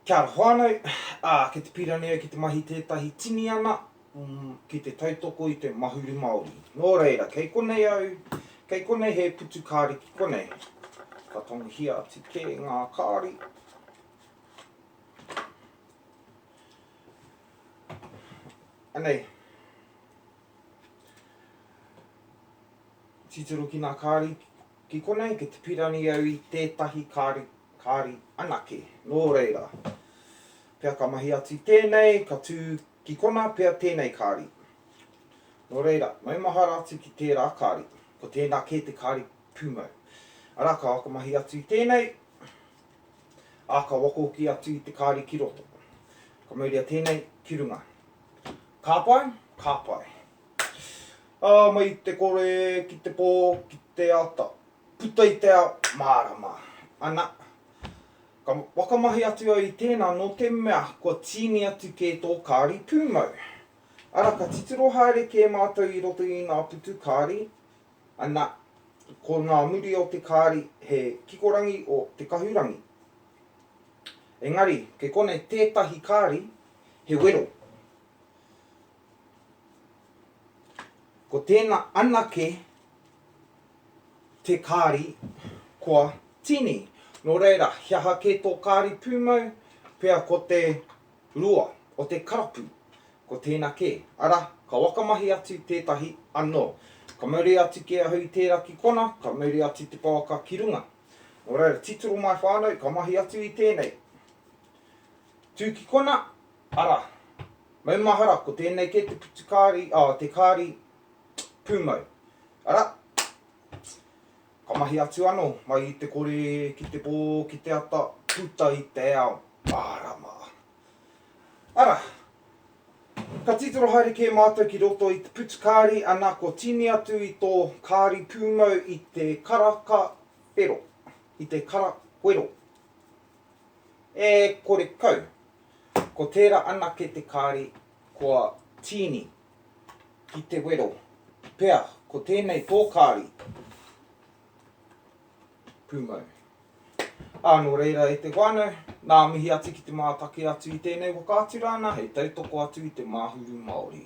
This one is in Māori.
Kia ora whānau, ā, kei te pīrani au ki te mahi tētahi tini ana ki te tautoko i te Mahuru Māori. Nō reira, kei konei au, kei konei he putu kāri ki konei. Ka tangohia atu kē ngā kāri. Anei. Titiro ki ngā kāri. Ki konei ki te pirani au i tētahi kāri, kāri anake. Nō reira, pea ka mahi atu i tēnei, ka tū ki konā pea tēnei kāri. Nō reira, maumahara atu ki tērā kāri, ko tēnā kē te kāri pūmau. Arā, ka whakamahi atu i tēnei, ā, ka wako hoki atu i te kāri ki roto. Ka mauria tēnei ki runga. Ka pai? Ka pai. Ā, mai i te kore ki te pō, ki te ata, puta i te ao, mārama. Ana, ka whakamahi atu au i tēnā nō te mea kua tīni atu kē tō kāri pūmau. Ara, ka titiro haere kē mātou i roto i ngā putu kāri, ana, ko ngā muri o te kāri he kikorangi o te kahurangi. Engari, kei konei tētahi kāri he wero. Ko tēnā anake te kāri kua tīni. Nō reira, he aha kē tō kāri pūmau? Pea ko te rua o te karapu, ko tēnā kē. Arā, ka whakamahi atu tētahi anō. Ka mauri atu kē ahau i tērā ki konā, ka mauri atu te pouaka ki runga. Nō reira, titiro mai whānau, ka mahi atu i tēnei. Tū ki konā, Arā, maumahara ko tēnei kē te putu kāri, oh, te kāri pūmau. Arā, ka mahi atu anō, mai i te kore ki te pō, ki te ata, puta i te ao, mārama. Arā, ka titiro haere kē mātou ki roto i te putu kāri, ana kua tīni atu i tō kāri pūmau i te karaka whero, i te kara whero. E kore kau. Ko tērā anake te kāri kua tīni ki te wero, pea ko tēnei tō kāri pūmau. Ā, nō reira e te whānau, nā mihi atu ki te mātaki atu i tēnei whakaatu rāna hei tautoko atu i te māhuru Māori.